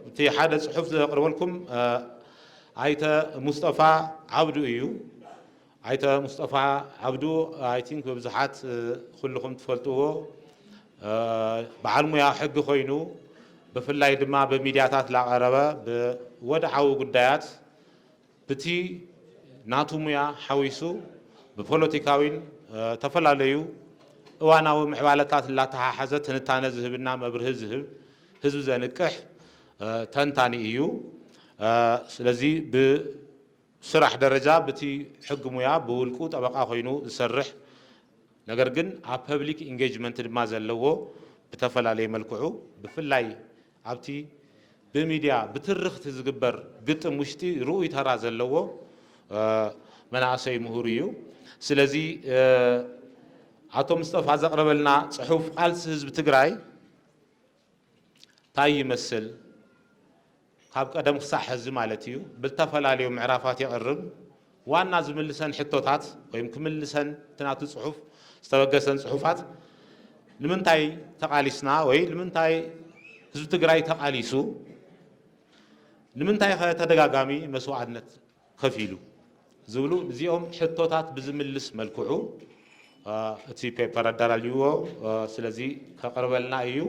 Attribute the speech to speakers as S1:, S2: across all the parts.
S1: እቲ ሓደ ጽሑፍ ዘቕርበልኩም ኣይተ ሙስጠፋ ዓብዱ እዩ። ኣይተ ሙስጠፋ ዓብዱ ኣይ ቲንክ ብብዙሓት ኩልኹም ትፈልጥዎ በዓል ሙያ ሕጊ ኮይኑ ብፍላይ ድማ ብሚድያታት ላቐረበ ብወድዓዊ ጉዳያት ብቲ ናቱ ሙያ ሓዊሱ ብፖለቲካዊን ተፈላለዩ እዋናዊ ምዕባለታት እላተሓሓዘ ትንታነ ዝህብና መብርሂ ዝህብ ህዝቢ ዘንቅሕ ተንታኒ እዩ። ስለዚ ብስራሕ ደረጃ ብቲ ሕጊ ሙያ ብውልቁ ጠበቃ ኮይኑ ዝሰርሕ ነገር ግን ኣብ ፐብሊክ ኢንጌጅመንት ድማ ዘለዎ ብተፈላለየ መልክዑ ብፍላይ ኣብቲ ብሚድያ ብትርኽቲ ዝግበር ግጥም ውሽጢ ርኡይ ተራ ዘለዎ መናእሰይ ምሁር ኢዩ። ስለዚ ኣቶ ምስጠፋ ዘቕረበልና ፅሑፍ ቓልሲ ህዝቢ ትግራይ ታይ ይመስል ካብ ቀደም ክሳዕ ሕዚ ማለት ኢዩ ብልተፈላለዩ ምዕራፋት የቕርብ። ዋና ዝምልሰን ሕቶታት ወይም ክምልሰን እቲ ናቱ ጽሑፍ ዝተበገሰን ጽሑፋት ንምንታይ ተቓሊስና ወይ ንምንታይ ህዝቢ ትግራይ ተቓሊሱ ንምንታይ ከ ተደጋጋሚ መስዋዕነት ከፊሉ ዝብሉ እዚኦም ሕቶታት ብዝምልስ መልክዑ እቲ ፔፐር ኣዳላልይዎ ስለዚ ከቕርበልና እዩ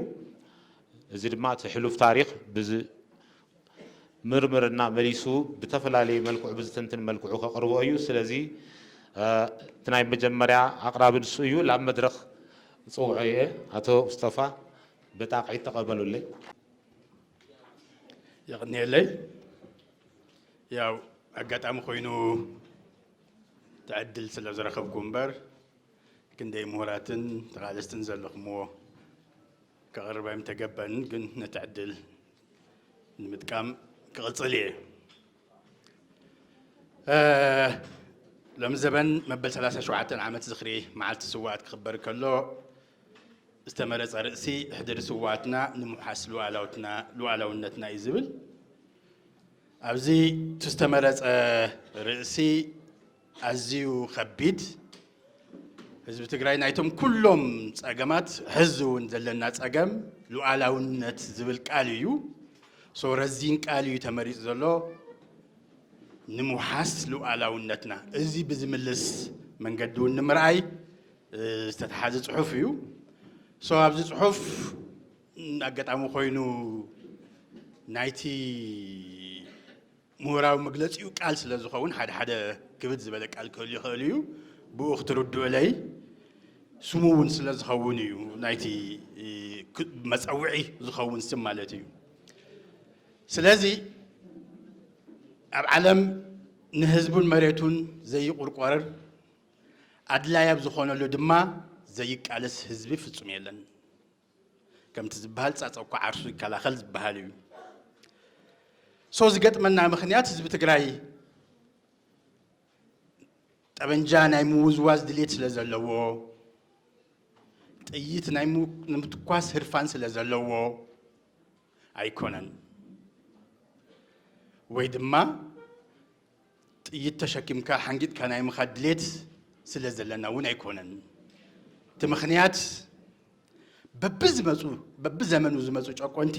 S1: እዚ ድማ እቲ ሕሉፍ ታሪኽ ምርምርና መሊሱ ብተፈላለየ መልክዑ ብዝትንትን መልክዑ ከቕርቦ እዩ። ስለዚ እቲ ናይ መጀመርያ ኣቕራቢ ንሱ እዩ። ላብ መድረኽ እጽውዖ እየ። ኣቶ ሙስጠፋ ብጣቕዒት ተቐበሉለይ።
S2: የቕንየለይ። ያው ኣጋጣሚ ኮይኑ እቲ ዕድል ስለ ዝረኸብኩ እምበር ክንደይ ምሁራትን ተቓለስትን ዘለኹምዎ ከቕርበ ኣይምተገበንን ግን ነቲ ዕድል ንምጥቃም ክቕፅል እየ ሎሚ ዘበን መበል 37 ዓመት ዝኽሪ መዓልቲ ስዋኣት ክኽበር ከሎ ዝተመረፀ ርእሲ ሕድሪ ስዋኣትና ንምውሓስ ሉኣላውነትና እዩ ዝብል ኣብዚ ዝተመረፀ ርእሲ ኣዝዩ ከቢድ ህዝቢ ትግራይ ናይቶም ኩሎም ጸገማት ሕዚ እውን ዘለና ጸገም ሉዓላውነት ዝብል ቃል እዩ ሶ ረዚን ቃል እዩ ተመሪጹ ዘሎ ንምውሓስ ሉዓላውነትና እዚ ብዝምልስ መንገዲ እውን ንምርኣይ ዝተተሓዘ ፅሑፍ እዩ ሶ ኣብዚ ፅሑፍ ኣጋጣሚ ኮይኑ ናይቲ ምሁራዊ መግለጺኡ ቃል ስለ ዝኸውን ሓደ ሓደ ክብድ ዝበለ ቃል ክህሉ ይኽእል እዩ ብኡ ክትርድኡለይ ስሙ እውን ስለ ዝኸውን እዩ ናይቲ መፀውዒ ዝኸውን ስም ማለት እዩ ስለዚ ኣብ ዓለም ንህዝቡን መሬቱን ዘይቁርቆረር ኣድላይ ኣብ ዝኾነሉ ድማ ዘይቃለስ ህዝቢ ፍጹም የለን ከምቲ ዝበሃል ፃፀ እኳ ዓርሱ ይከላኸል ዝበሃል እዩ ሰው ዝገጥመና ምክንያት ህዝቢ ትግራይ ጠበንጃ ናይ ምውዝዋዝ ድሌት ስለ ዘለዎ ጥይት ናይ ንምትኳስ ህርፋን ስለ ዘለዎ ኣይኮነን ወይ ድማ ጥይት ተሸኪምካ ሓንጊጥካ ናይ ምኻድ ድሌት ስለ ዘለና እውን ኣይኮነን። እቲ ምኽንያት በብዝመፁ በብዘመኑ ዝመፁ ጨቆንቲ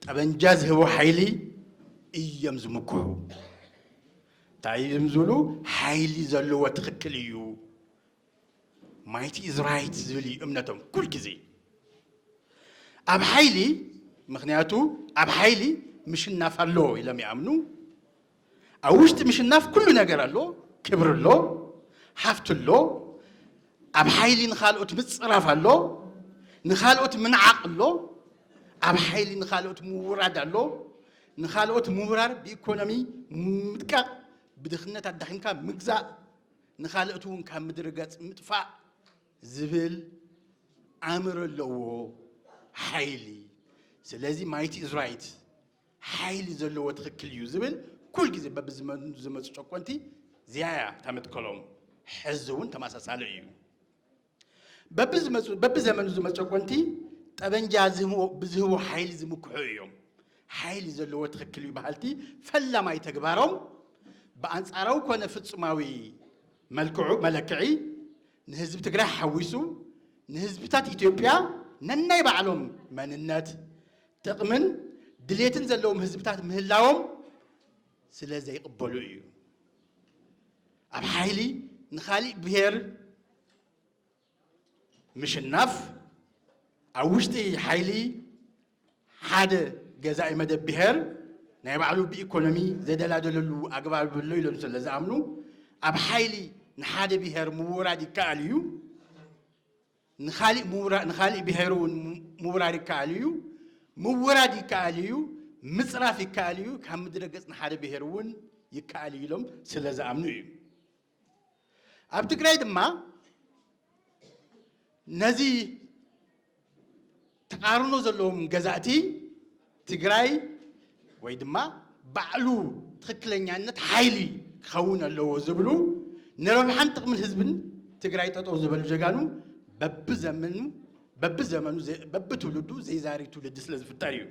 S2: ጠበንጃ ዝህቦ ሓይሊ እዮም ዝምክሑ። እንታይ እዮም ዝብሉ? ሓይሊ ዘለዎ ትኽክል እዩ ማይቲ ኢዝ ራይት ዝብል እዩ እምነቶም ኩል ግዜ ኣብ ሓይሊ ምክንያቱ ኣብ ሓይሊ ምሽናፍ ኣሎ ኢሎም ይኣምኑ ኣብ ውሽጢ ምሽናፍ ኩሉ ነገር ኣሎ ክብሪ ኣሎ ሃፍቲ ኣሎ ኣብ ሓይሊ ንካልኦት ምፅራፍ ኣሎ ንካልኦት ምንዓቕ ኣሎ ኣብ ሓይሊ ንካልኦት ምውራድ ኣሎ ንካልኦት ምውራር ብኢኮኖሚ ምድቃቕ ብድኽነት ኣዳኺምካ ምግዛእ ንኻልእት እውን ካብ ምድሪ ገጽ ምጥፋእ ዝብል ኣምር ኣለዎ ሓይሊ ስለዚ ማይቲ እዝራይት ሓይሊ ዘለዎ ትኽክል እዩ ዝብል ኩል ግዜ በብዝመፁ ጨቆንቲ ዚያያ ታመትከሎም ሕዚ እውን ተመሳሳሊ እዩ በብዘመኑ ዝመ ጨቆንቲ ጠበንጃ ብዝህቦ ሓይሊ ዝምክሑ እዮም። ሓይሊ ዘለዎ ትኽክል እዩ በሃልቲ ፈላማይ ተግባሮም ብኣንጻራዊ ኮነ ፍጹማዊ መልክዑ መለክዒ ንህዝቢ ትግራይ ሓዊሱ ንህዝብታት ኢትዮጵያ ነናይ ባዕሎም መንነት፣ ጥቕምን ድሌትን ዘለዎም ህዝብታት ምህላዎም ስለ ዘይቕበሉ እዩ። ኣብ ሓይሊ ንኻሊእ ብሄር ምሽናፍ ኣብ ውሽጢ ሓይሊ ሓደ ገዛኢ መደብ ብሄር ናይ ባዕሉ ብኢኮኖሚ ዘደላደለሉ ኣግባብ ኣሎ ኢሎም ስለ ዝኣምኑ ኣብ ሓይሊ ንሓደ ብሄር ምውራድ ይከኣል እዩ ንካሊእ ንካሊእ ብሄር እውን ምውራር ይከኣል እዩ፣ ምውራድ ይከኣል እዩ፣ ምፅራፍ ይከኣል እዩ፣ ካብ ምድረ ገፅ ንሓደ ብሄር እውን ይከኣል እዩ ኢሎም ስለ ዝኣምኑ እዩ። ኣብ ትግራይ ድማ ነዚ ተቓርኖ ዘለዎም ገዛእቲ ትግራይ ወይ ድማ ባዕሉ ትኽክለኛነት ሓይሊ ክኸውን ኣለዎ ዝብሉ ንረብሓን ጥቕምን ህዝብን ትግራይ ጠጠው ዝበሉ ጀጋኑ በብዘመኑ በብዘመኑ በብትውልዱ ዘይዛሪ ትውልዲ ስለ ዝፍጠር እዩ።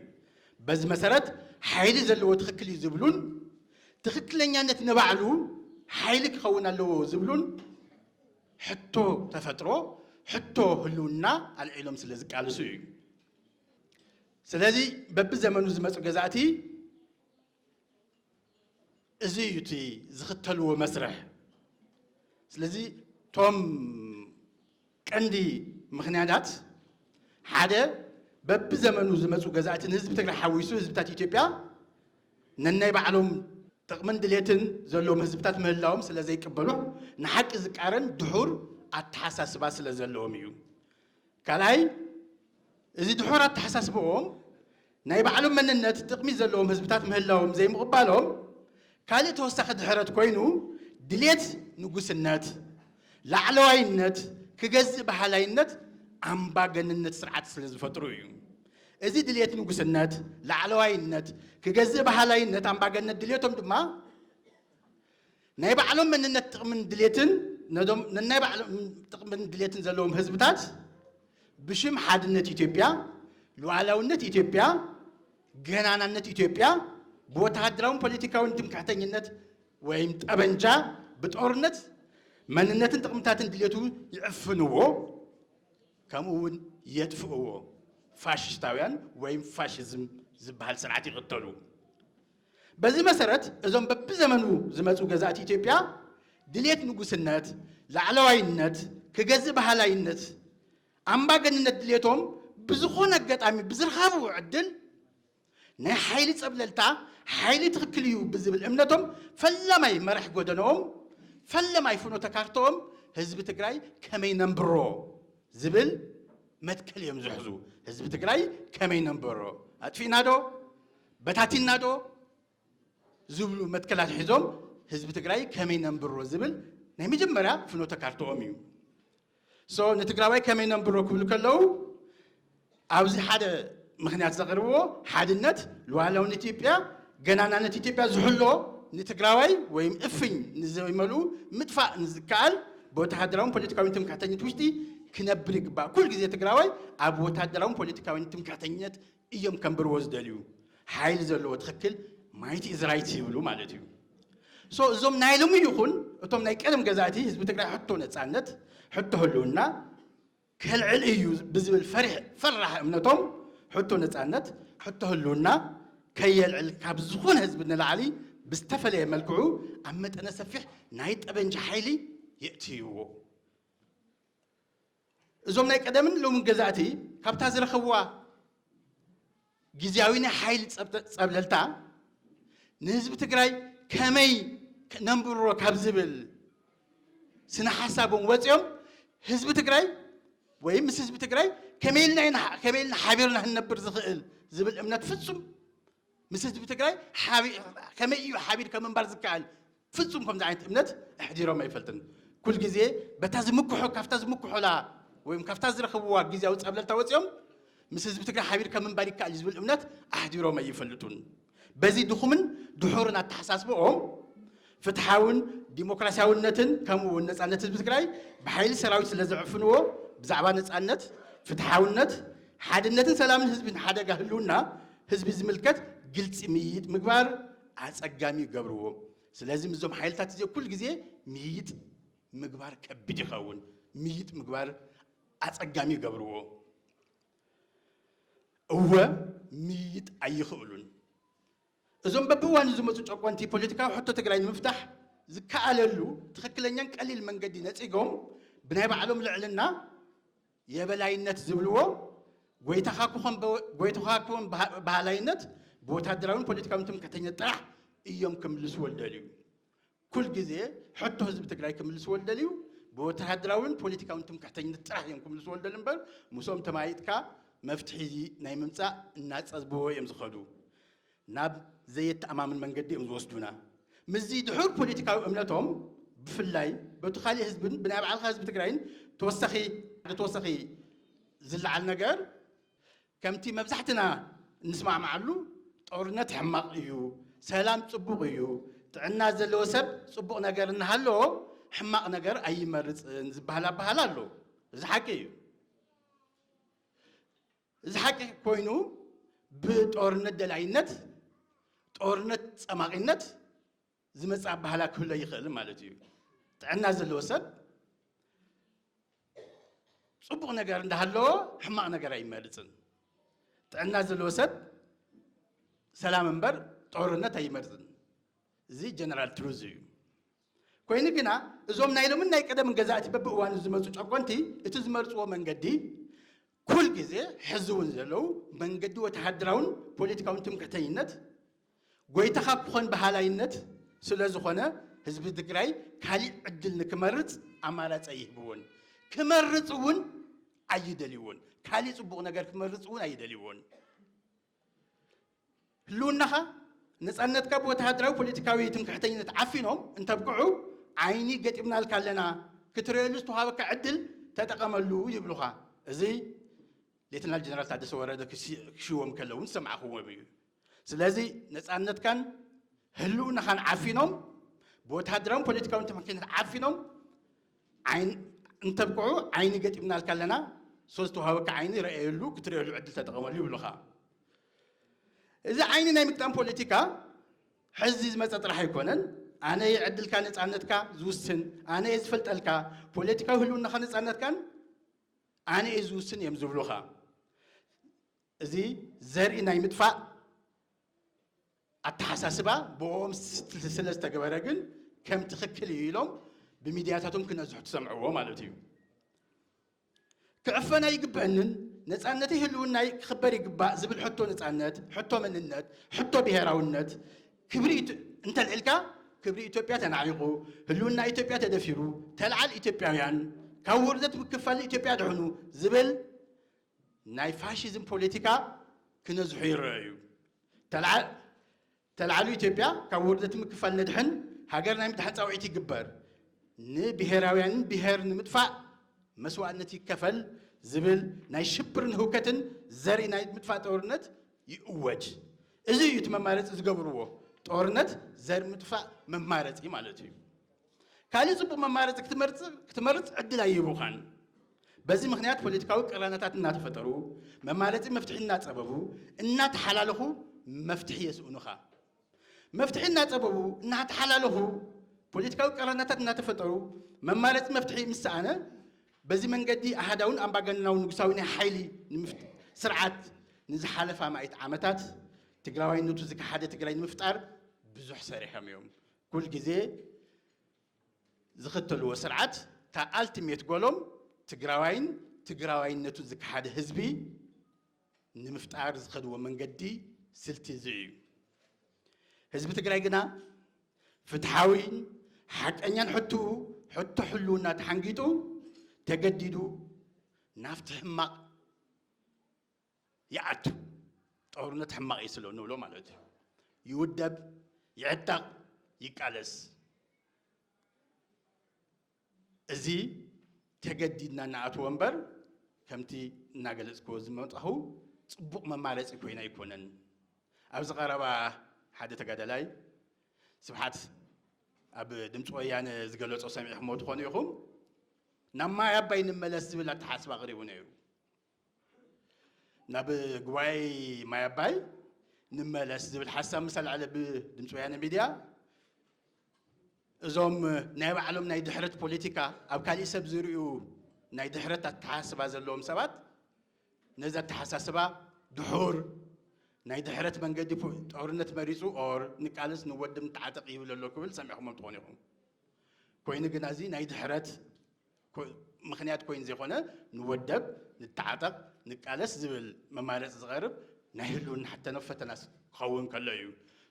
S2: በዚ መሰረት ሓይሊ ዘለዎ ትኽክል እዩ ዝብሉን ትኽክለኛነት ንባዕሉ ሓይሊ ክኸውን ኣለዎ ዝብሉን ሕቶ ተፈጥሮ ሕቶ ህልውና ኣልዒሎም ስለ ዝቃልሱ እዩ። ስለዚ በብዘመኑ ዝመፁ ገዛእቲ እዚ እዩ እቲ ዝኽተልዎ መስርሕ። ስለዚ እቶም ቀንዲ ምክንያታት ሓደ በብዘመኑ ዝመፁ ገዛእቲ ንህዝቢ ትግራይ ሓዊሱ ህዝብታት ኢትዮጵያ ነናይ ባዕሎም ጥቕምን ድሌትን ዘለዎም ህዝብታት ምህላዎም ስለ ዘይቅበሉ ንሓቂ ዝቃረን ድሑር ኣተሓሳስባ ስለ ዘለዎም እዩ። ካልኣይ እዚ ድሑር ኣተሓሳስብኦም ናይ ባዕሎም መንነት ጥቕሚ ዘለዎም ህዝብታት ምህላዎም ዘይምቕባሎም ካልእ ተወሳኺ ድሕረት ኮይኑ ድሌት ንጉስነት፣ ላዕለዋይነት፣ ክገዝእ በሃላይነት ኣምባገንነት ስርዓት ስለ ዝፈጥሩ እዩ። እዚ ድልየት ንጉስነት፣ ላዕለዋይነት፣ ክገዝእ በሃላይነት ኣምባገነት ድልየቶም ድማ ናይ ባዕሎም መንነት ጥቕምን ድልየትን ነዞም ነናይ ባዕሎም ጥቕምን ድልየትን ዘለዎም ህዝብታት ብሽም ሓድነት ኢትዮጵያ፣ ሉዓላውነት ኢትዮጵያ፣ ገናናነት ኢትዮጵያ ብወተሃደራውን ፖለቲካውን ትምክሕተኝነት ወይም ጠበንጃ ብጦርነት መንነትን ጥቕምታትን ድልየቱ ይዕፍንዎ። ከምኡ ውን የጥፍእዎ። ፋሽስታውያን ወይም ፋሽዝም ዝበሃል ስርዓት ይቕተሉ። በዚ መሰረት እዞም በብዘመኑ ዝመፁ ገዛእቲ ኢትዮጵያ ድሌት ንጉስነት፣ ላዕለዋይነት፣ ክገዝእ በሃላይነት፣ ኣምባገንነት ድሌቶም ብዝኾነ ኣጋጣሚ ብዝርኻብዎ ዕድል ናይ ሓይሊ ፀብለልታ ሓይሊ ትኽክል እዩ ብዝብል እምነቶም ፈላማይ መራሕ ጎደነኦም ፈለማይ ፍኖተ ካርተኦም ህዝቢ ትግራይ ከመይ ነንብሮ ዝብል መትከል እዮም ዝሕዙ። ህዝቢ ትግራይ ከመይ ነንብሮ ኣጥፊእና ዶ በታቲና ዶ ዝብሉ መትከላት ሒዞም ህዝቢ ትግራይ ከመይ ነንብሮ ዝብል ናይ መጀመርያ ፍኖተ ካርትኦም እዩ ሶ ንትግራዋይ ከመይ ነንብሮ ክብሉ ከለዉ ኣብዚ ሓደ ምክንያት ዘቕርብዎ ሓድነት ሉዓላውን ኢትዮጵያ ገናናነት ኢትዮጵያ ዝሕሎ ንትግራዋይ ወይም እፍኝ ንዘይመሉ ምጥፋእ ንዝከኣል ብወተሃደራውን ፖለቲካዊ ትምክሕተኝነት ውሽጢ ክነብር ይግባእ ኩል ግዜ ትግራዋይ ኣብ ወተሃደራውን ፖለቲካዊ ትምክሕተኝነት እዮም ከንብርዎ ዝደልዩ ሓይሊ ዘለዎ ትኽክል ማይት ኢዝ ራይት ይብሉ ማለት እዩ ሶ እዞም ናይ ሎሚ ይኹን እቶም ናይ ቀደም ገዛእቲ ህዝቢ ትግራይ ሕቶ ነፃነት ሕቶ ህልውና ከልዕል እዩ ብዝብል ፈሪሕ ፈራሕ እምነቶም ሕቶ ነፃነት ሕቶ ህልውና ከየልዕል ካብ ዝኾነ ህዝቢ ንላዕሊ ብዝተፈለየ መልክዑ ኣብ መጠነ ሰፊሕ ናይ ጠበንጃ ሓይሊ የእትይዎ እዞም ናይ ቀደምን ሎምን ገዛእቲ ካብታ ዝረኸብዋ ግዝያዊ ናይ ሓይሊ ጸብለልታ ንህዝቢ ትግራይ ከመይ ነንብሮ ካብ ዝብል ስነ ሓሳቦም ወፂኦም ህዝቢ ትግራይ ወይም ምስ ህዝቢ ትግራይ ከመይ ኢልና ሓቢርና ክንነብር ዝኽእል ዝብል እምነት ፍጹም ምስ ህዝቢ ትግራይ ከመይ እዩ ሓቢርካ ምንባር ዝከኣል ፍፁም ከምዚ ዓይነት እምነት ኣሕዲሮም ኣይፈልጥን። ኩል ግዜ በታ ዝምክሖ ካብታ ዝምክሖላ ወይም ካብታ ዝረኽብዋ ግዜያዊ ፀብለልታ ወፂኦም ምስ ህዝቢ ትግራይ ሓቢርካ ምንባር ይከኣል እዩ ዝብል እምነት ኣሕዲሮም ኣይፈልጡን። በዚ ድኹምን ድሑርን ኣተሓሳስብኦም ፍትሓውን ዲሞክራሲያውነትን ከምኡ እውን ነፃነት ህዝቢ ትግራይ ብሓይሊ ሰራዊት ስለ ዝዕፍንዎ ብዛዕባ ነፃነት፣ ፍትሓውነት፣ ሓድነትን ሰላምን ህዝብን ሓደጋ ህልውና ህዝቢ ዝምልከት ግልፂ ምይይጥ ምግባር ኣፀጋሚ ይገብርዎ። ስለዚ ምስዞም ሓይልታት እዚ ኩል ግዜ ምይይጥ ምግባር ከቢድ ይኸውን። ምይይጥ ምግባር ኣፀጋሚ ይገብርዎ። እወ ምይይጥ ኣይኽእሉን። እዞም በብእዋኑ ዝመፁ ጨቆንቲ ፖለቲካዊ ሕቶ ትግራይ ንምፍታሕ ዝከኣለሉ ትኽክለኛን ቀሊል መንገዲ ነፂጎም ብናይ ባዕሎም ልዕልና፣ የበላይነት፣ ዝብልዎ ጎይታኻ ክኾን በሃላይነት ብወታደራዊን ፖለቲካዊን ትምክሕተኝነት ጥራሕ እዮም ክምልስዎ ዝደልዩ። ኩል ግዜ ሕቶ ህዝቢ ትግራይ ክምልስዎ ዝደልዩ ብወተሃደራዊን ፖለቲካዊን ትምክሕተኝነት ጥራሕ እዮም ክምልስዎ ዝደልዩ እምበር ምስኦም ተመያይጥካ መፍትሒ እዚ ናይ ምምፃእ እናፀዝብዎ እዮም ዝኸዱ። ናብ ዘየተኣማምን መንገዲ እዮም ዝወስዱና። ምስዚ ድሑር ፖለቲካዊ እምነቶም ብፍላይ በቱ ካሊእ ህዝብን ብናይ ባዕልኻ ህዝቢ ትግራይን ተወሳኺ ሓደ ተወሳኺ ዝለዓል ነገር ከምቲ መብዛሕትና እንስማዕማዓሉ ጦርነት ሕማቕ እዩ፣ ሰላም ጽቡቕ እዩ፣ ጥዕና ዘለዎ ሰብ ጽቡቕ ነገር እናሃለዎ ሕማቕ ነገር ኣይመርጽን ዝበሃል ኣበሃህላ ኣሎ። እዚ ሓቂ እዩ። እዚ ሓቂ ኮይኑ ብጦርነት ደላይነት፣ ጦርነት ጸማቒነት ዝመጽእ ኣባህላ ክህሎ ይኽእል ማለት እዩ። ጥዕና ዘለዎ ሰብ ጽቡቕ ነገር እንዳሃለዎ ሕማቕ ነገር ኣይመርጽን። ጥዕና ዘለዎ ሰብ ሰላም እምበር ጦርነት ኣይመርጽን። እዚ ጀነራል ትሩዝ እዩ። ኮይኑ ግና እዞም ናይ ሎምን ናይ ቀደምን ገዛእቲ በብእዋኑ ዝመፁ ጨቆንቲ እቲ ዝመርፅዎ መንገዲ ኩል ግዜ ሕዚ እውን ዘለዉ መንገዲ ወተሃደራውን ፖለቲካውን ትምክሕተኝነት ጎይታኻ ክኾን በሃላይነት ስለ ዝኾነ ህዝቢ ትግራይ ካሊእ ዕድል ንክመርፅ ኣማራፂ ኣይህብዎን ክመርፅ እውን ኣይደልዎን ካሊእ ፅቡቕ ነገር ክመርፅ እውን ኣይደልዎን። ህልውናኻ ነፃነትካ ብወተሃደራዊ ፖለቲካዊ ትምክሕተኝነት ዓፊኖም እንተብቅዑ ዓይኒ ገጢምናልካ ኣለና ክትርእየሉ ዝተዋሃበካ ዕድል ተጠቐመሉ ይብሉኻ እዚ ሌተናል ጀነራል ታደሰ ወረደ ክሽዎም ከለዉ ዝሰማዕኽዎም እዩ ስለዚ ነፃነትካን ህልውናኻን ዓፊኖም ብወተሃደራዊ ፖለቲካዊ ትምክሕተኝነት ዓፊኖም ዓይን እንተብቅዑ ዓይኒ ገጢምናልካ ኣለና ሶ ዝተዋሃበካ ዓይኒ ረኣየሉ ክትርእየሉ ዕድል ተጠቐመሉ ይብሉኻ እዚ ዓይኒ ናይ ምግጣም ፖለቲካ ሕዚ ዝመፀ ጥራሕ ኣይኮነን ኣነ እየ ዕድልካ ነፃነትካ ዝውስን ኣነ እየ ዝፈልጠልካ ፖለቲካዊ ህልውናኻ ነፃነትካን ኣነ እየ ዝውስን እዮም ዝብሉኻ እዚ ዘርኢ ናይ ምጥፋእ ኣተሓሳስባ ብኦም ስለ ዝተገበረ ግን ከም ትኽክል እዩ ኢሎም ብሚድያታቶም ክነዝሑ ትሰምዕዎ ማለት እዩ። ክዕፈን ኣይግበንን፣ ነፃነተይ ህልውናይ ክኽበር ይግባእ ዝብል ሕቶ ነፃነት፣ ሕቶ መንነት፣ ሕቶ ብሄራውነት ክብሪ እንተልዒልካ ክብሪ ኢትዮጵያ ተናዒቑ፣ ህልውና ኢትዮጵያ ተደፊሩ፣ ተልዓል ኢትዮጵያውያን ካብ ውርደት ምክፋል ኢትዮጵያ ድሕኑ ዝብል ናይ ፋሽዝም ፖለቲካ ክነዝሑ ይረኣዩ። ተላዓሉ ኢትዮጵያ ካብ ውርደት ምክፋል ነድሕን ሃገር ናይ ምድሓን ፃውዒት ይግበር ንብሄራውያንን ብሄር ንምጥፋእ መስዋእነት ይከፈል ዝብል ናይ ሽብርን ህውከትን ዘርኢ ናይ ምጥፋእ ጦርነት ይእወጅ እዚ እዩ እቲ መማረፂ ዝገብርዎ ጦርነት ዘርኢ ምጥፋእ መማረፂ ማለት እዩ ካልእ ጽቡቕ መማረጺ ክትመርጽ ዕድል ኣይህቡኻን። በዚ ምኽንያት ፖለቲካዊ ቅራነታት እናተፈጠሩ፣ መማረጺ መፍትሒ እናጸበቡ፣ እናተሓላለኹ መፍትሒ የስእኑኻ። መፍትሒ እናጸበቡ፣ እናተሓላለኹ፣ ፖለቲካዊ ቅራነታት እናተፈጠሩ፣ መማረጺ መፍትሒ ምስ ሰኣነ፣ በዚ መንገዲ ኣሃዳውን ኣምባገነናዊ ንጉሳዊ ናይ ሓይሊ ስርዓት ንዝሓለፋ ኣማኢት ዓመታት ትግራዋይነቱ ዝከሓደ ትግራይ ንምፍጣር ብዙሕ ሰሪሖም እዮም። ኩል ግዜ ዝኽተልዎ ስርዓት እታ ኣልቲሜት ጎሎም ትግራዋይን ትግራዋይነቱ ዝከሓደ ህዝቢ ንምፍጣር ዝኸድዎ መንገዲ ስልቲ እዚ እዩ። ህዝቢ ትግራይ ግና ፍትሓዊን ሓቀኛን ሕትኡ ሕቶ ሕልውና ተሓንጊጡ ተገዲዱ ናብቲ ሕማቕ ይኣቱ ጦርነት ሕማቕ እዩ ስለ ንብሎ ማለት እዩ ይውደብ ይዕጠቕ ይቃለስ እዚ ተገዲድና ንኣትዎ እምበር ከምቲ እናገለፅክዎ ዝመጣኹ ፅቡቕ መማረፂ ኮይኑ ኣይኮነን። ኣብዚ ቀረባ ሓደ ተጋዳላይ ስብሓት ኣብ ድምፂ ወያነ ዝገለፆ ሰሚዕኹምዎ ትኾኑ ኢኹም ናብ ማይ ኣባይ ንመለስ ዝብል ኣተሓስባ ኣቕሪቡ ነይሩ። ናብ ጉባኤ ማይ ኣባይ ንመለስ ዝብል ሓሳብ ምስ ኣልዓለ ብድምፂ ወያነ ሚድያ እዞም ናይ ባዕሎም ናይ ድሕረት ፖለቲካ ኣብ ካሊእ ሰብ ዝርዩ ናይ ድሕረት ኣተሓሳስባ ዘለዎም ሰባት ነዚ ኣተሓሳስባ ድሑር ናይ ድሕረት መንገዲ ጦርነት መሪፁ ኦር ንቃልስ ንወድም ተዓጠቕ ይብል ኣሎ ክብል ሰሚዕኹሞም ትኾኑ ኢኹም። ኮይኑ ግና እዚ ናይ ድሕረት ምኽንያት ኮይኑ ዘይኮነ ንወደብ ንተዓጠቕ ንቃለስ ዝብል መማረፂ ዝቐርብ ናይ ህልውና ሕተነ ፈተና ክኸውን ከሎ እዩ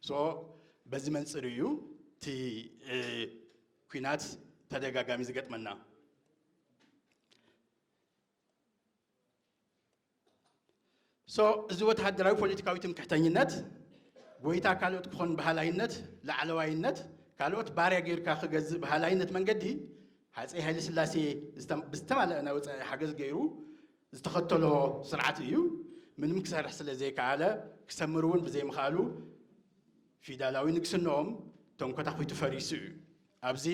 S2: ሶ በዚ መንፅር እዩ እቲ ኩናት ተደጋጋሚ ዝገጥመና ሶ እዚ ወተሃደራዊ ፖለቲካዊ ትምክሕተኝነት ጎይታ ካልኦት ክኾን ባህላይነት ላዕለዋይነት ካልኦት ባርያ ጌርካ ክገዝእ ባህላይነት መንገዲ ሃፀይ ሃይለ ስላሴ ብዝተማለአ ናይ ወፃኢ ሓገዝ ገይሩ ዝተኸተሎ ስርዓት እዩ ምንም ክሰርሕ ስለ ዘይከኣለ ክሰምር እውን ብዘይምኽኣሉ ፊዳላዊ ንግስንኦም ተንኮታኺቱ ፈሪሱ እዩ ኣብዚ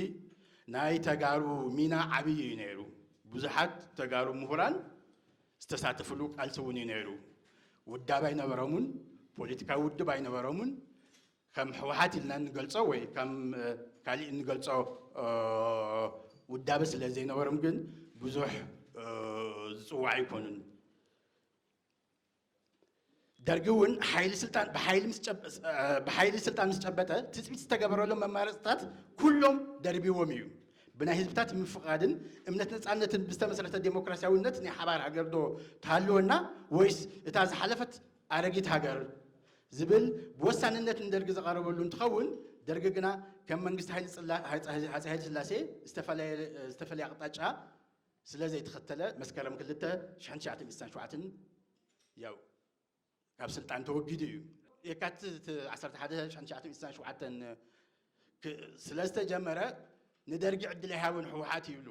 S2: ናይ ተጋሩ ሚና ዓብዪ እዩ ነይሩ። ብዙሓት ተጋሩ ምሁራን ዝተሳተፍሉ ቃልሲ እውን እዩ ነይሩ። ውዳብ ኣይነበሮምን፣ ፖለቲካዊ ውድብ ኣይነበሮምን። ከም ሕወሓት ኢልና እንገልጾ ወይ ከም ካሊእ እንገልጾ ውዳበ ስለ ዘይነበሮም ግን ብዙሕ ዝፅዋዕ ኣይኮኑን። ደርጊ እውን ሓይሊ ስልጣን ብሓይሊ ምስ ጨበ- ስ- እ፣ ብሓይሊ ስልጣን ምስ ጨበጠ ትፅቢት ዝተገበረሎም መማረፅታት ኩሎም ደርቢዎም እዩ ብናይ ህዝብታት ምፍቓድን እምነት ነፃነትን ብዝተመስረተ ዴሞክራሲያዊነት ናይ ሓባር ሃገር ዶ ትሃልወና ወይስ እታ ዝሓለፈት ኣረጊት ሃገር ዝብል ብወሳንነት ንደርጊ ዝቐረበሉ እንትኸውን ደርጊ ግና ከም መንግስቲ ሃይለ ስላ- ሃፀ ሃፀ ሃይለ ስላሴ ዝተፈለየ ዝተፈለየ ኣቕጣጫ ስለ ዘይተኸተለ መስከረም ክልተ ሽሕን ትሽዓተን ሚእትን ሸውዓተን ያው ካብ ስልጣን ተወጊዱ እዩ። የካትት ዓሰርተ ሓደ ሽሕን ትሽዓተን ሚእትን ሸውዓተን ክ- ስለ ዝተጀመረ ንደርጊ ዕድል ኣይሃቦን ህወሓት ይብሉ።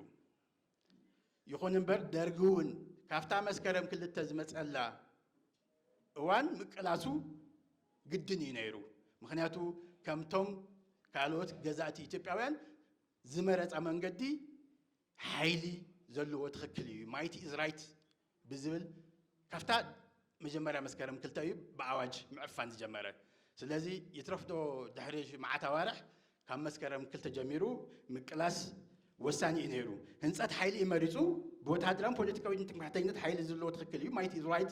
S2: ይኹን እምበር ደርጊ እውን ካብታ መስከረም ክልተ ዝመፀላ እዋን ምቅላሱ ግድን እዩ ነይሩ። ምክንያቱ ከምቶም ካልኦት ገዛእቲ ኢትዮጵያውያን ዝመረፃ መንገዲ ሓይሊ ዘለዎ ትኽክል እዩ ማይቲ ኢዝ ራይት ብዝብል ካብታ መጀመርያ መስከረም ክልተ እዩ ብኣዋጅ ምዕፋን ዝጀመረ ስለዚ ይትረፍዶ ድሕሪ መዓት ኣዋርሕ ካብ መስከረም ክልተ ጀሚሩ ምቅላስ ወሳኒ እዩ ነይሩ ህንፀት ሓይሊ እዩ መሪፁ ብወተሃደራን ፖለቲካዊ ትምክሕተኝነት ሓይሊ ዘለዎ ትኽክል እዩ ማይቲ ኢዝ ራይት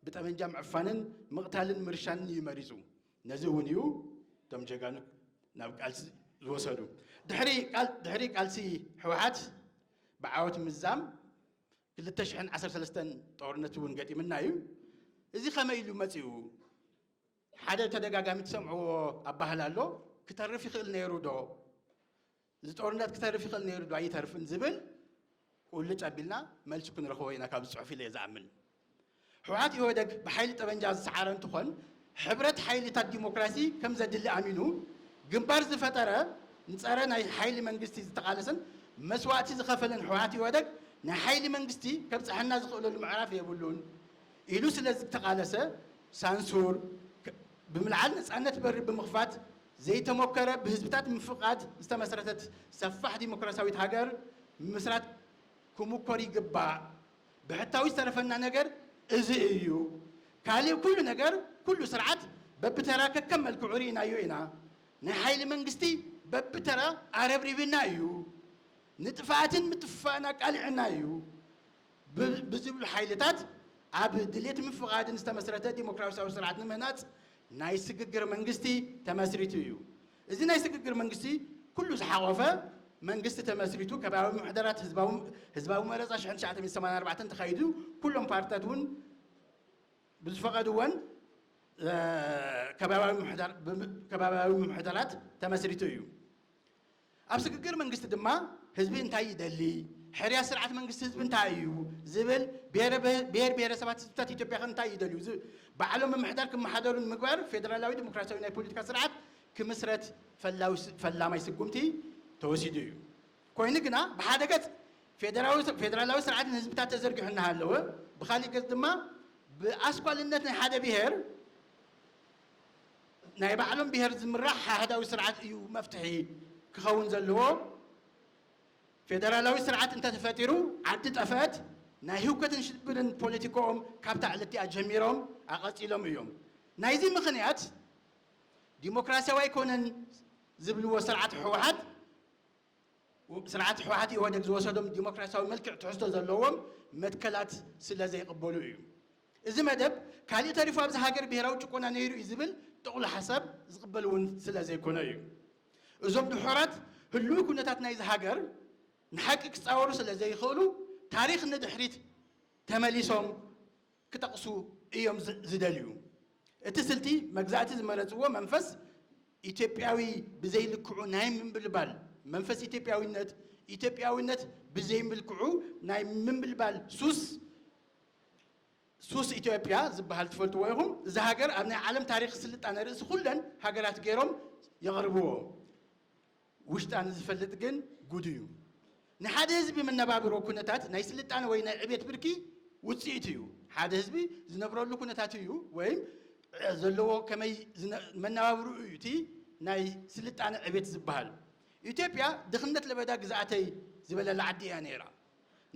S2: ብጠመንጃ ምዕፋንን ምቕታልን ምርሻንን እዩ መሪፁ ነዚ እውን እዩ እቶም ጀጋኑ ናብ ቃልሲ ዝወሰዱ። ድሕሪ ቃልሲ ሕወሓት ብዓወት ምዛም ክልተ ሽሕን ዓሰርተ ሰለስተን ጦርነት እውን ገጢምና እዩ። እዚ ከመይ ኢሉ መፂኡ? ሓደ ተደጋጋሚ ትሰምዕዎ ኣባህላ ኣሎ፣ ክተርፍ ይኽእል ነይሩ ዶ? እዚ ጦርነት ክተርፍ ይኽእል ነይሩ ዶ ኣይተርፍን ዝብል ቁልጭ ኣቢልና መልሱ ክንረኽቦ ኢና ካብዚ ፅሑፍ ኢለ እየ ዝኣምን። ህውሓት ኢህወደግ ብሓይሊ ጠበንጃ ዝሰዓረ እንትኾን ሕብረት ሓይሊታት ዲሞክራሲ ከም ዘድሊ ኣሚኑ ግንባር ዝፈጠረ ንፀረ ናይ ሓይሊ መንግስቲ ዝተቓለሰን መስዋእቲ ዝኸፈለን ህውሓት ኢህወደግ ናይ ሓይሊ መንግስቲ ከብፀሐና ዝኽእለሉ ምዕራፍ የብሉን ኢሉ ስለዝተቓለሰ ሳንሱር ብምልዓል ነፃነት በሪ ብምኽፋት ዘይተሞከረ ብህዝብታት ምፍቓድ ዝተመስረተት ሰፋሕ ዲሞክራሲያዊት ሃገር ምምስራት ክሙኮር ይግባእ። ብሕታዊ ዝተረፈና ነገር እዚ እዩ። ካሊእ ኩሉ ነገር ኩሉ ስርዓት በብተራ ከከም መልክዑ ርኢናዮ ኢና። ናይ ሓይሊ መንግስቲ በብተራ ኣረብሪብና እዩ። ንጥፍኣትን ምጥፍፋእን ኣቃሊዑና እዩ። ብዝብሉ ሓይልታት ኣብ ድሌት ምፍቓድን ዝተመስረተ ዲሞክራሲያዊ ስርዓት ንምህናፅ ናይ ስግግር መንግስቲ ተመስሪቱ እዩ። እዚ ናይ ስግግር መንግስቲ ኩሉ ዝሓቖፈ መንግስቲ ተመስሪቱ ከባብያዊ ምምሕዳራት ህዝባዊ መረፃ ሽሕን ትሽዓተ ሚእትን ሰማንያን ኣርባዕተን ተኻይዱ ኩሎም ፓርትታት እውን ብዝፈቐድወን ከባብያዊ ምምሕዳራት ተመስሪቱ እዩ። ኣብ ስግግር መንግስቲ ድማ ህዝቢ እንታይ ይደሊ፣ ሕርያ ስርዓት መንግስቲ ህዝቢ እንታይ እዩ ዝብል፣ ብሄር ብሄረሰባት ህዝብታት ኢትዮጵያ ከ እንታይ ይደልዩ ዝብ ባዕሎም ምምሕዳር ክመሓደሩ ንምግባር ፌደራላዊ ዲሞክራሲያዊ ናይ ፖለቲካ ስርዓት ክምስረት ፈላማይ ስጉምቲ ተወሲዱ እዩ። ኮይኑ ግና ብሓደ ገፅ ፌደራላዊ ስርዓት ንህዝብታት ተዘርጊሑ እናሃለወ ብኻሊእ ገፅ ድማ ብኣስኳልነት ናይ ሓደ ብሄር ናይ ባዕሎም ብሄር ዝምራሕ ኣሃዳዊ ስርዓት እዩ መፍትሒ ክኸውን ዘለዎ። ፌደራላዊ ስርዓት እንተተፈጢሩ ዓዲ ጠፈእት። ናይ ህውከትን ሽብርን ፖለቲክኦም ካብታ ዕለትቲኣ ጀሚሮም ኣቐጺሎም እዮም። ናይዚ ምኽንያት ዲሞክራሲያዊ ኣይኮነን ዝብልዎ ስርዓት ህወሓት ስርዓት ህወሓት ኢህወደግ ዝወሰዶም ዲሞክራሲያዊ መልክዕ ትሕዝቶ ዘለዎም መትከላት ስለዘይቕበሉ እዩ። እዚ መደብ ካሊእ ተሪፉ ኣብዛ ሃገር ብሄራዊ ጭቆና ነይሩ እዩ ዝብል ጥቕሉ ሓሳብ ዝቕበል እውን ስለ ዘይኮነ እዩ። እዞም ድሑራት ህልዊ ኩነታት ናይዛ ሃገር ንሓቂ ክፃወሩ ስለ ዘይኽእሉ ታሪኽ ንድሕሪት ተመሊሶም ክጠቕሱ እዮም ዝደልዩ። እቲ ስልቲ መግዛእቲ ዝመረፅዎ መንፈስ ኢትዮጵያዊ ብዘይ ልክዑ ናይ ምምብልባል መንፈስ ኢትዮጵያዊነት ኢትዮጵያዊነት ብዘይ ምልክዑ ናይ ምምብልባል ሱስ ሱስ ኢትዮጵያ ዝበሃል ትፈልጥዎ ኢኹም። እዛ ሃገር ኣብ ናይ ዓለም ታሪኽ ስልጣነ ርእሲ ኩለን ሃገራት ገይሮም የቕርብዎ። ውሽጣ ንዝፈልጥ ግን ጉዱ እዩ። ናይ ሓደ ህዝቢ መነባብሮ ኩነታት ናይ ስልጣነ ወይ ናይ ዕቤት ብርኪ ውፅኢት እዩ። ሓደ ህዝቢ ዝነብረሉ ኩነታት እዩ ወይም ዘለዎ ከመይ መነባብርኡ እዩ እቲ ናይ ስልጣነ ዕቤት ዝበሃል። ኢትዮጵያ ድኽነት ለበዳ ግዝኣተይ ዝበለላ ዓዲ እያ ነይራ።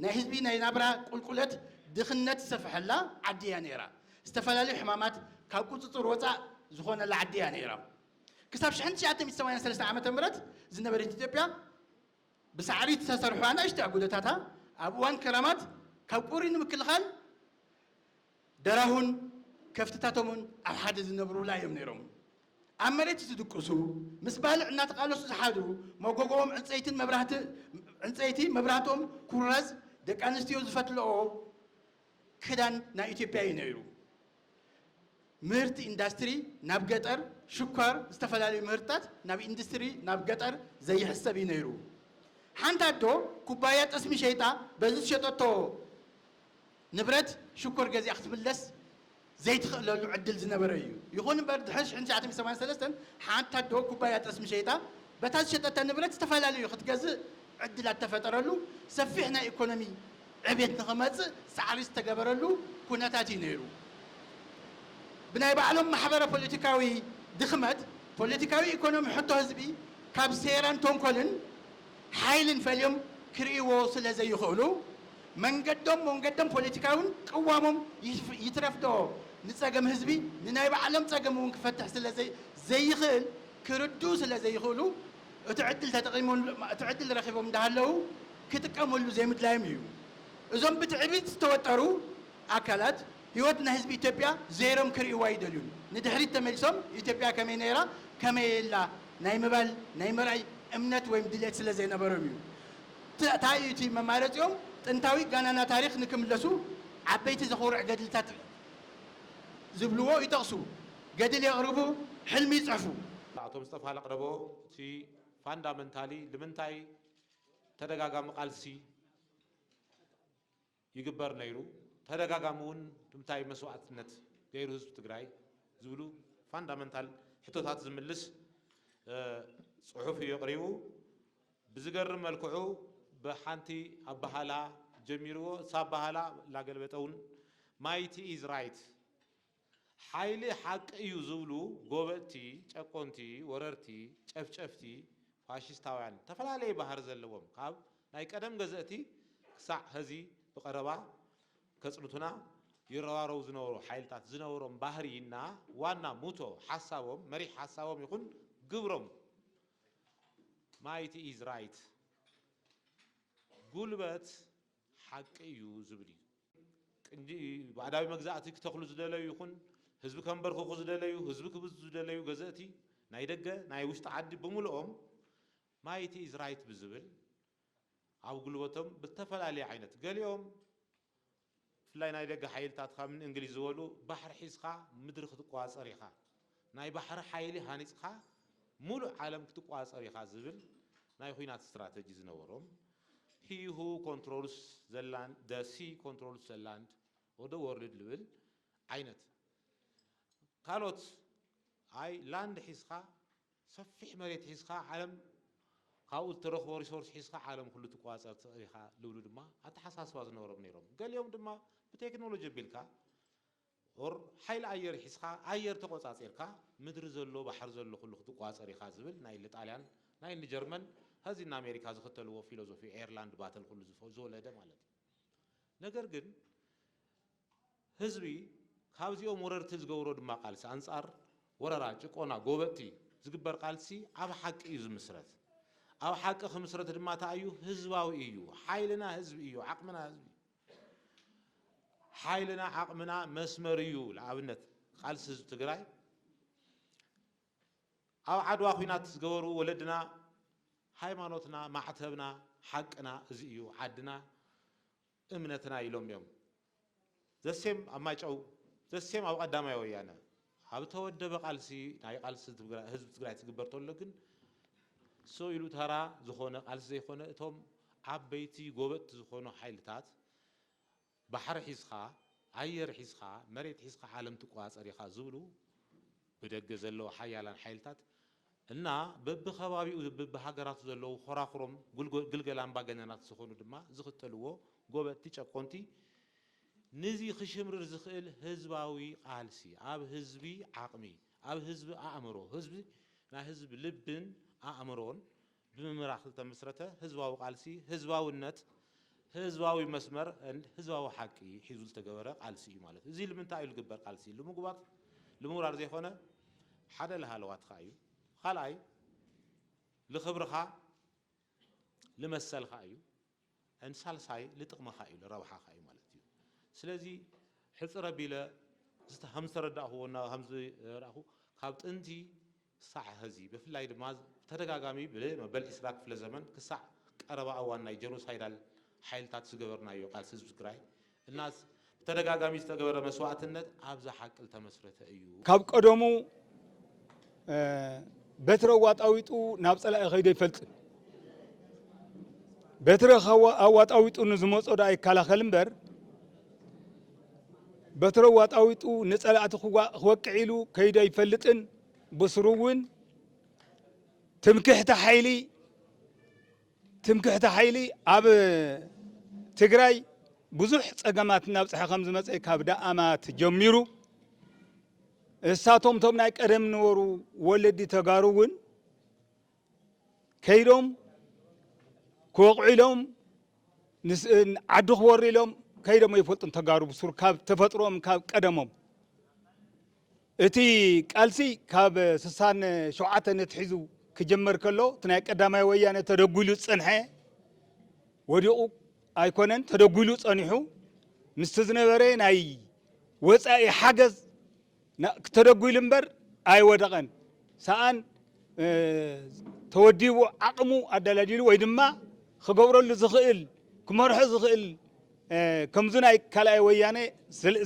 S2: ናይ ህዝቢ ናይ ናብራ ቁልቁለት ድኽነት ዝሰፈሐላ ዓዲ እያ ነይራ። ዝተፈላለዩ ሕማማት ካብ ቁፅፅር ወፃእ ዝኾነላ ዓዲ እያ ነይራ። ክሳብ ሽሕን ትሽዓተ ሚእቲ ሰማንያን ሰለስተን ዓመተ ምህረት ዝነበረት ኢትዮጵያ ብሳዕሪ ዝተሰርሑ ኣናእሽቲ ኣጉዶታታ ኣብ እዋን ክራማት ካብ ቁሪ ንምክልኻል ደራሁን ከፍትታቶምን ኣብ ሓደ ዝነብሩላ እዮም ነይሮም። ኣብ መሬት ዝድቅሱ፣ ምስ ባልዕ እናተቓለሱ ዝሓድሩ፣ መጎጎኦም ዕንጸይትን መብራህት ዕንጸይቲ፣ መብራህቶም ኩራዝ፣ ደቂ ኣንስትዮ ዝፈትልኦ ክዳን ናይ ኢትዮጵያ እዩ ነይሩ። ምህርቲ ኢንዳስትሪ ናብ ገጠር፣ ሽኳር፣ ዝተፈላለዩ ምህርትታት ናብ ኢንዱስትሪ ናብ ገጠር ዘይሕሰብ እዩ ነይሩ። ሓንቲ ኣዶ ኩባያ ጠስሚ ሸይጣ በዚ ዝሸጠቶ፣ ንብረት ሽኮር ገዚኣ ክትምለስ ዘይትኽእለሉ ዕድል ዝነበረ እዩ። ይኹን እምበር ድሕሪ ሽሕን ትሽዓተ ሚእትን ሰማንያን ሰለስተን ሓንቲ ኣዶ ኩባያ ጠስሚ ሸይጣ በታ ዝሸጠታ ንብረት ዝተፈላለዩ ክትገዝእ ዕድል ኣተፈጠረሉ ሰፊሕ ናይ ኢኮኖሚ ዕብየት ንኽመፅእ ፃዕሪ ዝተገበረሉ ኩነታት እዩ ነይሩ። ብናይ ባዕሎም ማሕበረ ፖለቲካዊ ድኽመት ፖለቲካዊ ኢኮኖሚ ሕቶ ህዝቢ ካብ ሴራን ተንኮልን ሓይልን ፈልዮም ክርእይዎ ስለ ዘይኽእሉ መንገዶም ሞንገዶም ፖለቲካውን ቅዋሞም ይትረፍዶ ንጸገም ህዝቢ ንናይ ባዕሎም ጸገም እውን ክፈትሕ ስለ ዘይኽእል ክርድኡ ስለ ዘይኽእሉ እቲ ዕድል ተጠቒሞም እቲ ዕድል ረኺቦም እንዳሃለዉ ክጥቀመሉ ዘይምድላዮም እዩ እዞም ብትዕቢት ዝተወጠሩ ኣካላት ህይወት ናይ ህዝቢ ኢትዮጵያ ዘይሮም ክርእይዋ ኣይደልዩን። ንድሕሪት ተመሊሶም ኢትዮጵያ ከመይ ነይራ ከመይ እላ ናይ ምባል ናይ ምርኣይ እምነት ወይም ድልየት ስለ ዘይነበሮም እዩ። ት ታይ እዩ እቲ መማረፂኦም? ጥንታዊ ጋናና ታሪኽ ንክምለሱ ዓበይቲ ዘኹርዕ ገድልታት ዝብልዎ ይጠቕሱ፣ ገድል የቕርቡ፣ ሕልሚ ይፅሕፉ። ኣቶ ምስጠፋ
S1: ለቅረቦ እቲ ፋንዳመንታሊ ልምንታይ ተደጋጋሚ ቃልሲ? ይግበር ነይሩ ተደጋጋሚ እውን ብምታይ መስዋእትነት ገይሩ ህዝቢ ትግራይ ዝብሉ ፋንዳመንታል ሕቶታት ዝምልስ ፅሑፍ እዩ ኣቕሪቡ። ብዝገርም መልክዑ ብሓንቲ ኣባሃላ ጀሚርዎ እሳ ኣባሃላ ላገልበጠ እውን ማይቲ ኢዝ ራይት፣ ሓይሊ ሓቂ እዩ ዝብሉ ጎበጥቲ፣ ጨቆንቲ፣ ወረርቲ፣ ጨፍጨፍቲ፣ ፋሽስታውያን ዝተፈላለየ ባህሪ ዘለዎም ካብ ናይ ቀደም ገዘእቲ ክሳዕ ሀዚ ብቐረባ ከጽንቱና ይረባረቡ ዝነበሩ ሓይልታት ዝነበሮም ባህሪ እና ዋና ሙቶ ሓሳቦም መሪሕ ሓሳቦም ይኹን ግብሮም ማይቲ ኢዝ ራይት ጉልበት ሓቂ እዩ ዝብል እዩ። ቅንዲ ባዕዳዊ መግዛእቲ ክተኽሉ ዝደለዩ ይኹን ህዝቢ ከንበርክኹ ዝደለዩ፣ ህዝቢ ክብዝብዙ ዝደለዩ ገዘእቲ ናይ ደገ ናይ ውሽጢ ዓዲ ብምልኦም ማይቲ ኢዝ ራይት ብዝብል ኣብ ጉልበቶም ብዝተፈላለየ ዓይነት ገሊኦም ብፍላይ ናይ ደገ ሓይልታት ከም ንእንግሊዝ ዝበሉ ባሕሪ ሒዝኻ ምድሪ ክትቆፃፀር ኢኻ ናይ ባሕሪ ሓይሊ ሃኒጽካ ሙሉእ ዓለም ክትቆጻጸር ኢኻ ዝብል ናይ ኹናት ስትራተጂ ዝነበሮም ሂ ሁ ኮንትሮልስ ዘ ላንድ ዘ ሲ ኮንትሮልስ ዘ ላንድ ኦር ዘ ዎርልድ ልብል ዓይነት ካልኦት ኣይ ላንድ ሒዝካ ሰፊሕ መሬት ሒዝካ ዓለም ካብኡ ዝተረኽቦ ሪሶርስ ሒዝካ ዓለም ኩሉ ትቆጻጸር ትኽእል ኢኻ ልብሉ ድማ ኣተሓሳስባ ዝነበሮም ነይሮም። ገሊኦም ድማ ብቴክኖሎጂ ኣቢልካ ኦር ሓይሊ ኣየር ሒዝካ ኣየር ተቆጻጺርካ ምድሪ ዘሎ ባሕሪ ዘሎ ኩሉ ክትቋጸር ኢኻ ዝብል ናይ እኒ ጣልያን ናይ እኒ ጀርመን ሀዚ እኒ ኣሜሪካ ዝኽተልዎ ፊሎዞፊ ኤርላንድ ባተል ኩሉ ዝወለደ ማለት እዩ ነገር ግን ህዝቢ ካብዚኦም ወረርቲ ዝገብሮ ድማ ቃልሲ ኣንጻር ወረራ ጭቆና ጎበጥቲ ዝግበር ቃልሲ ኣብ ሓቂ እዩ ዝምስረት ኣብ ሓቂ ክምስረት ድማ እንታይ እዩ ህዝባዊ እዩ ሓይልና ህዝቢ እዩ ዓቅምና ህዝቢ እዩ ሓይልና ዓቕምና መስመር እዩ ልኣብነት ቓልሲ ህዝቢ ትግራይ ኣብ ዓድዋ ኹናት ዝገበሩ ወለድና ሃይማኖትና ማዕተብና ሓቅና እዚ እዩ ዓድና እምነትና ኢሎም እዮም ዘሴም ኣብ ማይጨው ዘሴም ኣብ ቐዳማይ ወያነ ኣብ እተወደበ ቃልሲ ናይ ቃልሲ ህዝቢ ትግራይ ትግበር ተሎ ግን ሰው ኢሉ ተራ ዝኾነ ቃልሲ ዘይኮነ እቶም ዓበይቲ ጎበጥቲ ዝኾኑ ሓይልታት ባሕሪ ሒዝኻ ኣየር ሒዝኻ መሬት ሒዝኻ ዓለም ትቆፃፀር ኢኻ ዝብሉ ብደገ ዘለዉ ሓያላን ሓይልታት እና በብከባቢኡ በብሃገራቱ ዘለዉ ኾራኹሮም ግልገል ኣምባገነናት ዝኾኑ ድማ ዝኽተልዎ ጎበጥቲ ጨቆንቲ ንዚ ክሽምርር ዝኽእል ህዝባዊ ቃልሲ ኣብ ህዝቢ ዓቕሚ፣ ኣብ ህዝቢ ኣእምሮ፣ ህዝቢ ናይ ህዝቢ ልብን ኣእምሮን ብምምራኽ ዝተመስረተ ህዝባዊ ቃልሲ፣ ህዝባዊነት፣ ህዝባዊ መስመር and ህዝባዊ ሓቂ ሒዙ ዝተገበረ ቃልሲ እዩ ማለት እዩ። እዚ ልምንታይ እዩ ልግበር ቃልሲ ልምጉባጥ ልምውራር ዘይኮነ ሓደ ልሃለዋትኻ እዩ፣ ኻልኣይ ልኽብርኻ ልመሰልኻ እዩ፣ and ሳልሳይ ልጥቅምኻ እዩ ልረብሓኻ እዩ ማለት እዩ ስለዚ ሕጽር ኣቢለ ከም ዝተረዳእክዎ እና ከም ዝረእኩ ካብ ጥንቲ ክሳዕ ሀዚ ብፍላይ ድማ ብተደጋጋሚ ብመበል ዕስራ ክፍለ ዘመን ክሳዕ ቀረባ እዋን ናይ ጀኖሳይዳል ሓይልታት ዝገበርናዮ ቃልሲ ህዝቢ ትግራይ እናስ ብተደጋጋሚ ዝተገበረ መስዋእትነት ኣብዛ ሓቂ ልተመስረተ እዩ። ካብ ቀደሙ
S3: በትሪ ኣዋጣዊጡ ናብ ጸላኢ ከይዱ ኣይፈልጥን። በትሪ ኣዋጣዊጡ ንዝመጾ ደኣ ይከላኸል እምበር በትሪ ኣዋጣዊጡ ንጸላእቲ ክወቅዕ ኢሉ ከይዱ ኣይፈልጥን። ብስሩ እውን ትምክሕቲ ሓይሊ ትምክሕቲ ሓይሊ ኣብ ትግራይ ብዙሕ ፀገማት እናብፅሐ ከም ዝመፀ ካብ ደኣማት ጀሚሩ እሳቶም ቶም ናይ ቀደም ነበሩ ወለዲ ተጋሩ እውን ከይዶም ክወቕዑ ኢሎም ዓዲ ክወሩ ኢሎም ከይዶም ኣይፈልጡን ተጋሩ ብሱር ካብ ተፈጥሮም ካብ ቀደሞም እቲ ቃልሲ ካብ ስሳን ሸውዓተን ኣትሒዙ ክጅመር ከሎ እቲ ናይ ቀዳማይ ወያነ ተደጒሉ ዝጸንሐ ወዲቑ ኣይኮነን ተደጒሉ ጸኒሑ ምስቲ ዝነበረ ናይ ወፃኢ ሓገዝ ተደጒሉ እምበር ኣይወደቐን ሰኣን ተወዲቡ ዓቕሙ ኣደላዲሉ ወይ ድማ ክገብረሉ ዝኽእል ክመርሖ ዝኽእል ከምዚ ናይ ካልኣይ ወያኔ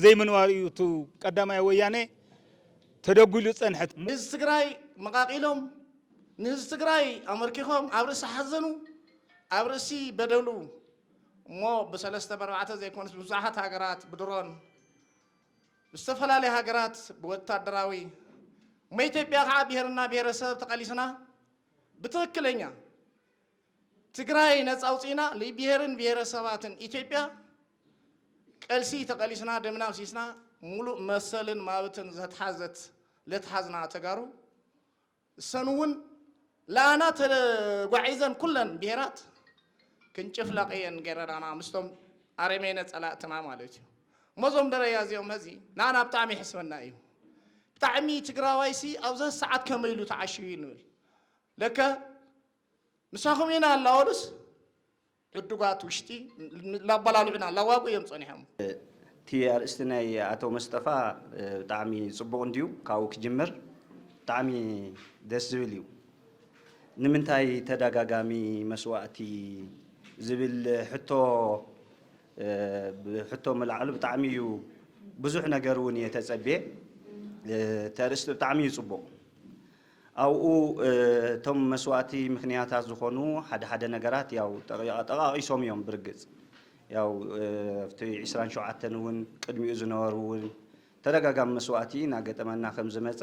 S3: ዘይምንባሩ እዩ እቱ ቀዳማይ ወያኔ ተደጒሉ ዝፀንሐ። ንህዝቢ ትግራይ
S4: መቓቒሎም፣ ንህዝቢ ትግራይ ኣመርኪኾም ኣብ ርእሲ ሓዘኑ፣ ኣብ ርእሲ በደሉ እሞ ብሰለስተ በርባዕተ ዘይኮነስ ብብዙሓት ሃገራት ብድሮን ብዝተፈላለዩ ሃገራት ብወታደራዊ እሞ ኢትዮጵያ ከዓ ብሄርና ብሄረሰብ ተቐሊስና ብትኽክለኛ ትግራይ ነፃ ኣውፂእና ልብሄርን ብሄረሰባትን ኢትዮጵያ ቀልሲ ተቐሊስና ደምና ኣፍሲስና ሙሉእ መሰልን ማብትን ዘትሓዘት ለትሓዝና ተጋሩ እሰን እውን ላና ተጓዒዘን ኩለን ብሄራት ክንጭፍለቕ እየን ገረዳና ምስቶም ኣረሜነ ፀላእትና ማለት እዩ እሞ እዞም ደረያ እዚኦም ሀዚ ንኣና ብጣዕሚ ይሕስበና እዩ ብጣዕሚ ትግራዋይሲ ኣብዚ ሰዓት ከመይ ኢሉ ተዓሽዩ ንብል ለከ ምሳኹም ኢና ኣላወሉስ ዕዱጋት ውሽጢ ላባላልዑና ኣላዋጉ እዮም ጸኒሖም። እቲ ኣርእስቲ
S5: ናይ ኣቶ መስጠፋ ብጣዕሚ ጽቡቕ እንድዩ ካብኡ ክጅምር ብጣዕሚ ደስ ዝብል እዩ። ንምንታይ ተዳጋጋሚ መስዋእቲ ዝብል ሕቶ ብሕቶ ምልዓሉ ብጣዕሚ እዩ ብዙሕ ነገር እውን እየ ተጸብየ እቲ ኣርእስቲ ብጣዕሚ እዩ ጽቡቕ። ኣብኡ እቶም መስዋእቲ ምክንያታት ዝኾኑ ሓደ ሓደ ነገራት ያው ጠቓቒሶም እዮም ብርግጽ ያው ኣብቲ ዕስራን ሸውዓተን እውን ቅድሚኡ ዝነበሩ እውን ተደጋጋሚ መስዋእቲ እናገጠመና ከም ዝመፀ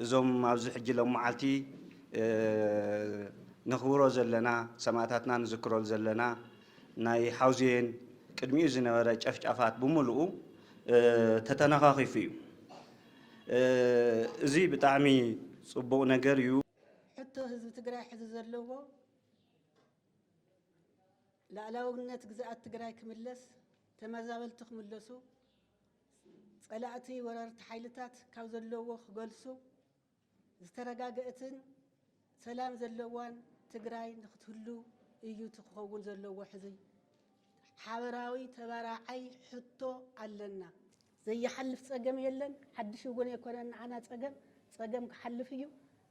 S5: እዞም ኣብዚ ሕጂ ሎም መዓልቲ ነኽብሮ ዘለና ሰማእታትና ንዝክሮ ዘለና ናይ ሓውዜን ቅድሚኡ ዝነበረ ጨፍጫፋት ብምልኡ ተተነኻኺፉ እዩ። እዚ ብጣዕሚ ፅቡቅ ነገር እዩ። ሕቶ ህዝቢ
S6: ትግራይ ሕዚ ዘለዎ ላእላውነት ግዝኣት ትግራይ ክምለስ፣ ተመዛበልቲ ክምለሱ፣ ፀላእቲ ወረርቲ ሓይልታት ካብ ዘለዎ ክገልሱ፣ ዝተረጋገእትን ሰላም ዘለዋን ትግራይ ንክትህሉ እዩ እቲ ክኸውን ዘለዎ ሕዚ ሓበራዊ ተባራዓይ ሕቶ ኣለና። ዘይሓልፍ ፀገም የለን ሓድሽ እውን ኣይኮነን ንዓና ፀገም ፀገም ክሓልፍ እዩ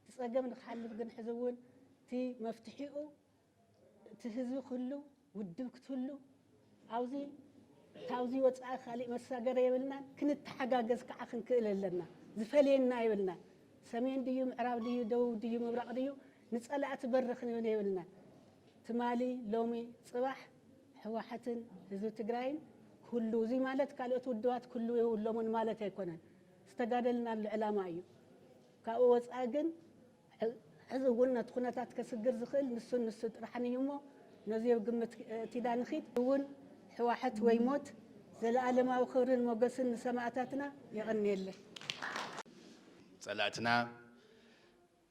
S6: እቲ ፀገም ንክሓልፍ ግን ሕዚ እውን እቲ መፍትሒኡ እቲ ህዝቢ ክህሉ ውድብ ክትህሉ ኣብዙ ካብዙ ወፃኢ ካሊእ መሳገሪ የብልናን ክንተሓጋገዝ ከዓ ክንክእል ኣለና ዝፈልየና የብልናን ሰሜን ድዩ ምዕራብ ድዩ ደቡብ ድዩ ምብራቕ ድዩ ንፀላእቲ በሪ ክንብን የብልናን ትማሊ ሎሚ ፅባሕ ሕዋሓትን ህዝቢ ትግራይን ክህሉ እዙይ ማለት ካልኦት ውድባት ክህሉ የብሎምን ማለት ኣይኮነን ዝተጋደልናሉ ዕላማ እዩ ካብኡ ወፃኢ ግን ሕዚ እውን ነቲ ኩነታት ከስግር ዝኽእል ንሱን ንሱ ጥራሕን እዩ እሞ ነዙይ ኣብ ግምት እቲዳ ንኺድ። እውን ሕዋሕት ወይ ሞት። ዘለኣለማዊ ክብርን ሞገስን ንሰማእታትና። የቐንየለይ።
S2: ፀላእትና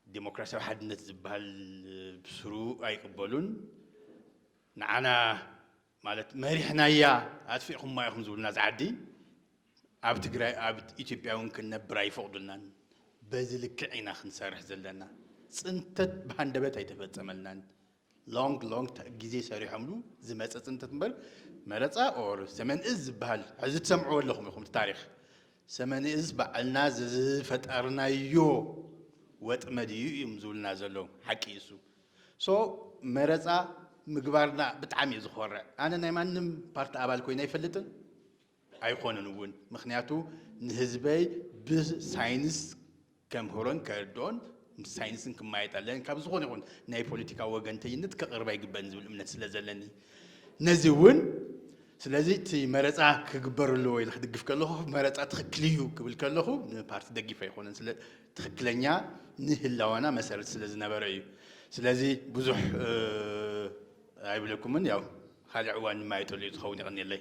S2: ዴሞክራሲያዊ ሓድነት ዝብሃል ብስሩ ኣይቅበሉን። ንዓና ማለት መሪሕናያ ኣጥፊእኹማ ኢኹም ዝብሉና እዛ ዓዲ ኣብ ትግራይ ኣብ ኢትዮጵያ እውን ክንነብር ኣይፈቕዱልናን። በዚ ልክዕ ኢና ክንሰርሕ ዘለና። ፅንተት ብሃንደበት ኣይተፈፀመልናን። ሎንግ ሎንግ ግዜ ሰሪሖምሉ ዝመፀ ፅንተት እምበር መረፃ ኦር ሰመን እዝ ዝበሃል ሕዚ ትሰምዕዎ ኣለኹም ኢኹም እቲ ታሪክ ሰመን እዝ ባዕልና ዝፈጠርናዮ ወጥመድ እዩ እዮም ዝብሉና ዘለዉ ሓቂ እሱ so መረፃ ምግባርና ብጣዕሚ እየ ዝኾርዕ ኣነ ናይ ማንም ፓርቲ ኣባል ኮይነ ኣይፈልጥን ኣይኾንን እውን ምክንያቱ ንህዝበይ ብሳይንስ ከምህሮን ከርድኦን ምስ ሳይንስን ክማየጥ ኣለኒ ካብ ዝኾነ ይኹን ናይ ፖለቲካ ወገንተኝነት ከቕርብ ኣይግበን ዝብል እምነት ስለ ዘለኒ ነዚ እውን ስለዚ እቲ መረፃ ክግበር ኣለዎ ኢለ ክድግፍ ከለኹ መረፃ ትኽክል እዩ ክብል ከለኹ ንፓርቲ ደጊፍ ኣይኮነን ትክክለኛ ንህላወና መሰረት ስለ ዝነበረ እዩ። ስለዚ ብዙሕ ኣይብለኩምን ያው ካልእ ዕዋን ድማ ኣይተልዩ ትኸውን የቐንየለይ።